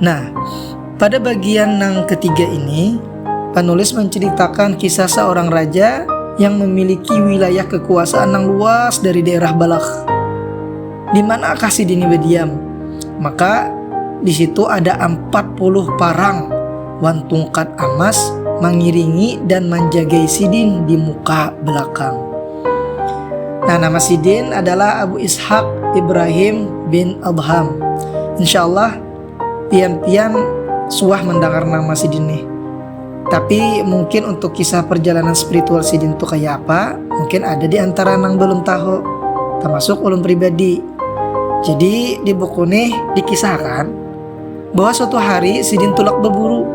Nah, pada bagian nang ketiga ini, panulis menceritakan kisah seorang raja yang memiliki wilayah kekuasaan nang luas dari daerah Balakh. Di manakah sidini badiam? Maka di situ ada ampat puluh parang wan tungkat amas mangiringi dan manjagai sidin di muka belakang. Nah, nama sidin adalah Abu Ishak Ibrahim bin Adham. Insyaallah pian-pian suah mendengar nama sidin nih. Tapi mungkin untuk kisah perjalanan spiritual sidin tuh kayak apa, mungkin ada di antara nang belum tahu, termasuk ulun pribadi. Jadi di buku nih dikisahkan Bahwa suatu hari sidin tulak baburu.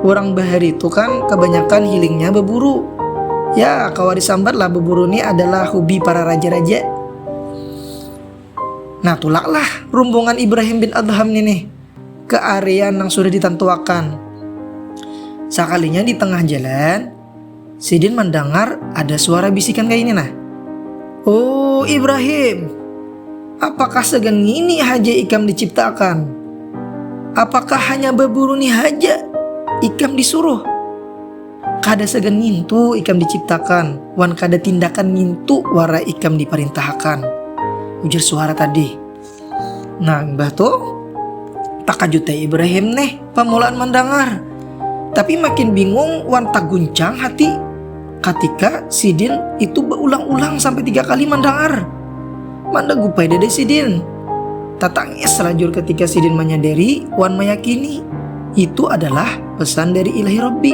Urang bahari tu kan kabanyakan hilingnya baburu. Ya kawa disambat lah baburu ni adalah hubi para raja-raja. Nah tulak lah rumbungan Ibrahim bin Adham ni nih ke area nang sudah ditantuakan. Sakalinya di tengah jalan, Sidin mandangar ada suara bisikan kaini nah. Oh Ibrahim, apakah sagan ngini haja ikam diciptaakan? Apakah hanya baburu ni haja ikam disuruh? Kada sagan ngintu ikam diciptakan wan kada tindakan ngintu wara ikam diparintahakan, ujar suara tadi. Nah, mbah tu takajut ai Ibrahim nih pamulaan mandangar. Tapi makin bingung wan taguncang hati katika sidin itu baulang-ulang sampai tiga kali mandangar. Manda gupai dada sidin. Tatangis lajur ketika sidin manyadari wan mayakini itu adalah pesan dari Ilahi Rabbi.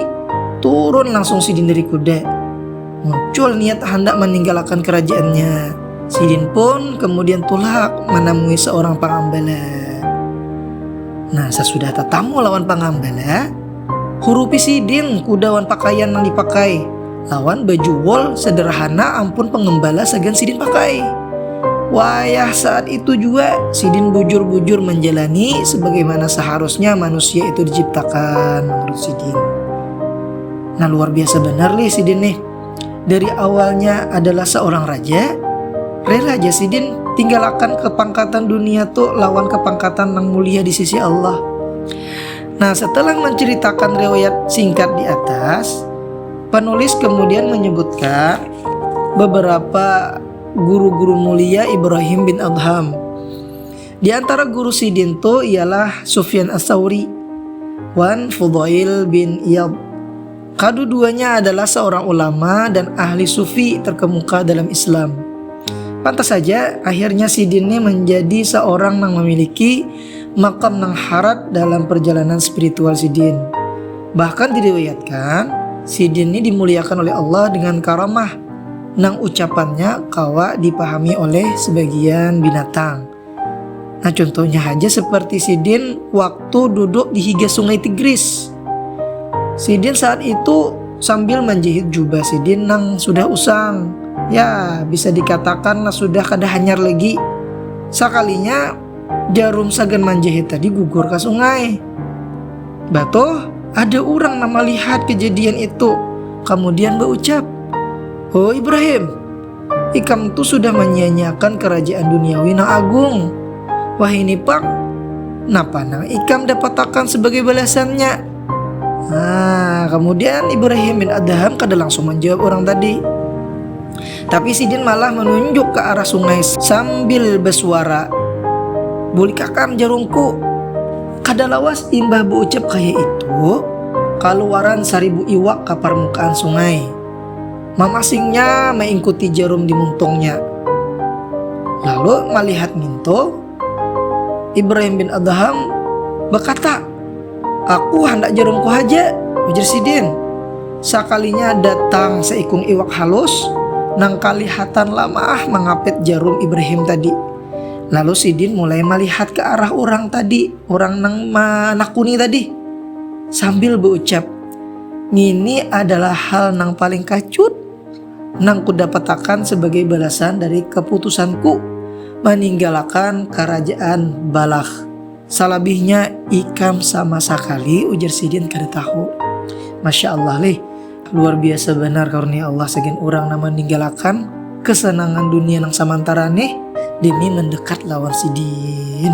Turun langsung sidin dari kuda. Muncul niat handak maninggalakan kerajaannya. Sidin pun kemudian tulak manamui seorang pangambala. Nah, sasudah tatamu lawan pangambala, hurupi sidin kuda wan pakaian nang dipakai, lawan baju wol sederhana ampun pengembala sagan sidin pakai. Wayah saat itu jua, sidin bujur-bujur manjalani sebagaimana seharusnya manusia itu diciptakan menurut sidin. Nah luar biasa benar nih sidin nih. Dari awalnya adalah seorang raja, rela aja sidin tinggalakan kepangkatan dunia tuh lawan kepangkatan yang mulia di sisi Allah. Nah setelah menceritakan riwayat singkat di atas, penulis kemudian menyebutkan beberapa guru-guru mulia Ibrahim bin Adham Di antara guru sidin tu ialah Sufyan Ats-Tsauri wan Fudhail bin Iyad. Kaduduanya adalah seorang ulama dan ahli sufi terkemuka dalam Islam. Pantas saja akhirnya sidin ni menjadi seorang nang memiliki makam nang harat dalam perjalanan spiritual sidin. Bahkan diriwayatkan, sidin ni dimuliakan oleh Allah dengan karamah nang ucapannya kawa dipahami oleh sebagian binatang. Nah contohnya haja seperti sidin waktu duduk di higa sungai Tigris. Sidin saat itu sambil manjahit jubah sidin nang sudah usang, ya bisa dikatakanlah sudah kada hanyar lagi. Sakalinya Jarum sagan manjahit tadi gugur ka sungai. Batoh, ada urang nang malihat kejadian itu, kamudian baucap, Ho Ibrahim, ikam tu sudah manyia-nyiakan karajaan duniawi nang agung. Wahini pang, napa nang ikam dapatakan sabagai balasannya? Nah, kamudian Ibrahim bin Adham kada langsung manjawab urang tadi. Tapi sidin malah manunjuk ka arah sungai sambil basuara, Bulik hakam jarungku! Kada lawas imbah baucap kaya itu, kaluaran saribu iwak ka parmukaan sungai. Mamasingnya maingkuti jarum di muntungnya. Lalu malihat ngintu. Ibrahim bin Adham bakata, Aku handak jarumku haja, ujar sidin. Sakalinya datang saikung iwak halus nang kalihatan lamaah mangapit jarum Ibrahim tadi. Lalu sidin mulai malihat ka arah urang tadi, urang nang manakuni tadi, sambil baucap, Ngini adalah hal nang paling kacut. nang kudapatakan sabagai balasan dari kaputusanku maninggalakan karajaan Balakh. Salabihnya ikam sama sakali, ujar sidin kada tahu. Masya Allah lih, luar biasa banar karunia Allah sagan urang nang maninggalakan kasanangan dunia nang samantara nih demi mandekat lawan sidin.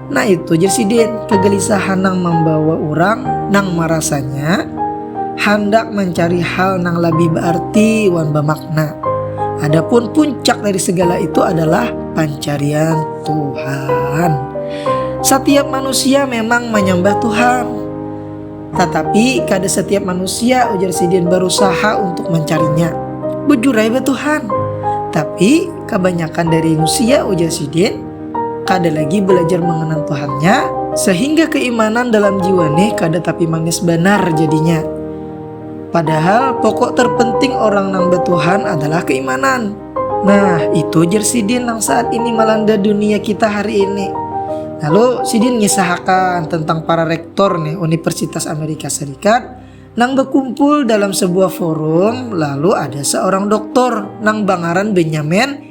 Nah itu jer sidin kegelisahan nang membawa urang nang merasanya handak mencari hal nang lebih bearti wan bemakna. Adapun puncak dari segala itu adalah pancarian Tuhan. Setiap manusia memang menyembah Tuhan. Tetapi kada setiap manusia ujar sidin berusaha untuk mencarinya. Bujur aja Tuhan. Tapi kebanyakan dari manusia ujar sidin Kada lagi balajar manganal Tuhannya, sahingga keimanan dalam jiwa nih kada tapi manis banar jadinya. Padahal pokok terpenting orang nang batuhan adalah keimanan. Nah, itu jer sidin nang saat ini malanda dunia kita hari ini. Lalu sidin ngisahakan tentang para rektor nih Universitas Amerika Serikat nang bakumpul dalam sebuah forum lalu ada seorang doktor nang bangaran Benyamin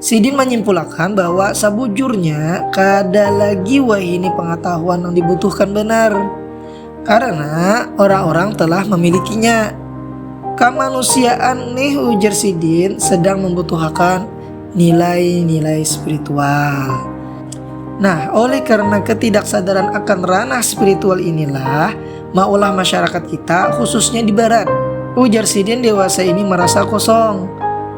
Sidin manyimpulakan bahwa sabujurnya kada lagi wahini pangatahuan nang dibutuhkan banar karana orang-orang telah mamilikinya. Kamanusiaan nih ujar sidin sedang mambutuhakan nilai-nilai spiritual. Nah, oleh karena ketidaksadaran akan ranah spiritual inilah maulah masyarakat kita khususnya di barat. Ujar sidin dewasa ini marasa kosong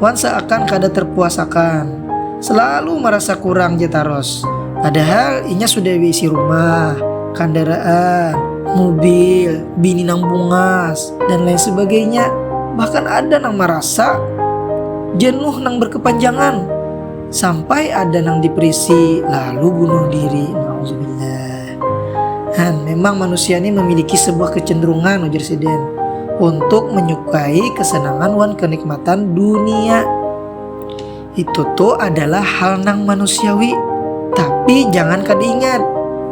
wan seakan kada terpuasakan. Selalu marasa kurang ja taros. Padahal inya sudah beisi rumah, kandaraan, mubil, bini nang bungas, dan lain sebagainya. Bahkan ada nang marasa jenuh nang berkepanjangan sampai ada nang depresi lalu bunuh diri. Nauzubillah. Han, memang manusia ini memiliki sebuah kecenderungan ujar si Den untuk menyukai kesenangan wan kenikmatan dunia. Itu tuh adalah hal nang manusiawi. Tapi jangan kada ingat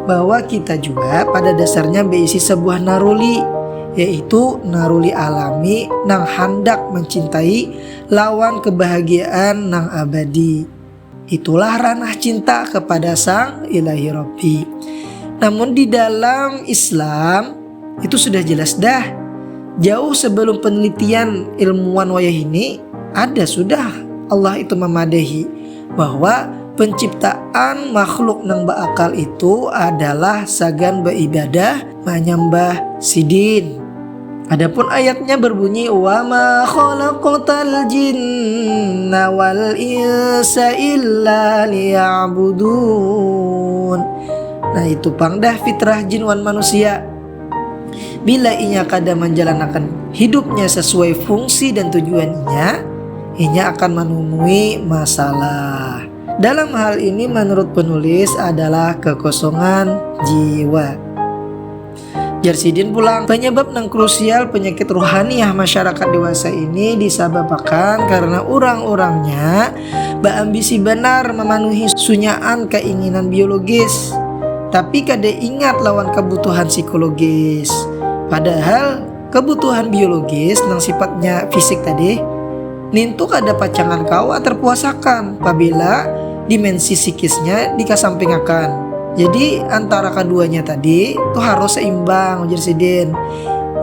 bahwa kita juga pada dasarnya beisi sebuah naruli yaitu naruli alami nang handak mencintai lawan kebahagiaan nang abadi. Itulah ranah cinta kepada sang ilahi Rabbi. Namun di dalam Islam itu sudah jelas dah. Jauh sebelum penelitian ilmuwan wayah ini ada sudah Allah itu memadahi bahwa penciptaan makhluk nang beakal itu adalah sagan beribadah menyembah sidin. Adapun ayatnya berbunyi wa ma khalaqtal jinna wal insa illa liya'budun. Nah itu pang dah fitrah jin wan manusia. Bila inya kada menjalanakan hidupnya sesuai fungsi dan tujuannya, inya akan menemui masalah. Dalam hal ini menurut penulis adalah kekosongan jiwa. Jar sidin pulang, penyebab nang krusial penyakit ruhaniah masyarakat dewasa ini disababakan karena urang-urangnya baambisi banar mamanuhi sunyaan kainginan biologis, tapi kada ingat lawan kabutuhan psikologis. Padahal. Kebutuhan biologis nang sifatnya fisik tadi nintu kada pacangan kawa terpuasakan pabila dimensi psikisnya dikasampingakan. Jadi antara kaduanya tadi tu harus seimbang ujar sidin.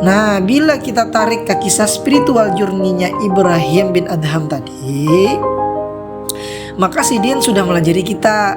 Nah bila kita tarik ka kisah spiritual journey-nya Ibrahim bin Adham tadi, maka sidin sudah malajari kita.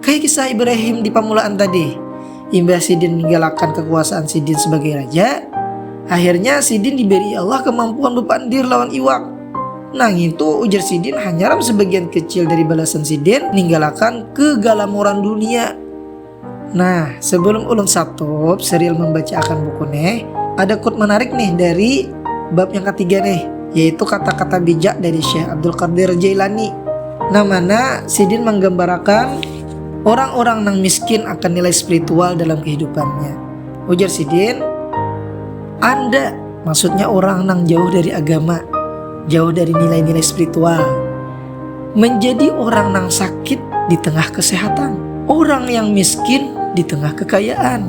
Kaya kisah Ibrahim di pamulaan tadi, imbah sidin ninggalakan kakuasaan sidin sabagai raja, akhirnya sidin diberi Allah kamampuan bapandir lawan iwak. Nangitu ujar sidin hanyaram sabagian kecil dari balasan sidin ninggalakan kegalamuran dunia. Nah, sebelum ulun satup serial membaca akan buku neh, ada quote menarik nih dari Bab yang katiga nih, yaitu kata-kata bijak dari Syekh Abdul Qadir Jailani. Nah mana sidin menggambarakan orang-orang nang miskin akan nilai spiritual dalam kehidupannya. Ujar sidin, anda maksudnya orang nang jauh dari agama, jauh dari nilai-nilai spiritual. Menjadi orang nang sakit di tengah kesehatan, orang yang miskin di tengah kekayaan.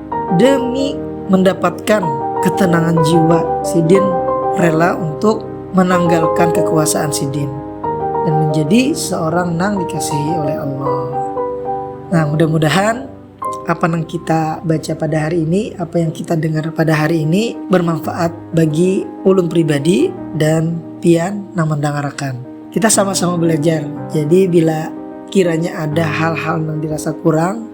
Demi mendapatkan ketenangan jiwa, sidin rela untuk menanggalkan kekuasaan sidin dan menjadi seorang nang dikasihi oleh Allah. Nah, mudah-mudahan apa yang kita baca pada hari ini, apa yang kita dengar pada hari ini bermanfaat bagi ulun pribadi dan pian nang mendangarakan. Kita sama-sama belajar. Jadi bila kiranya ada hal-hal yang dirasa kurang,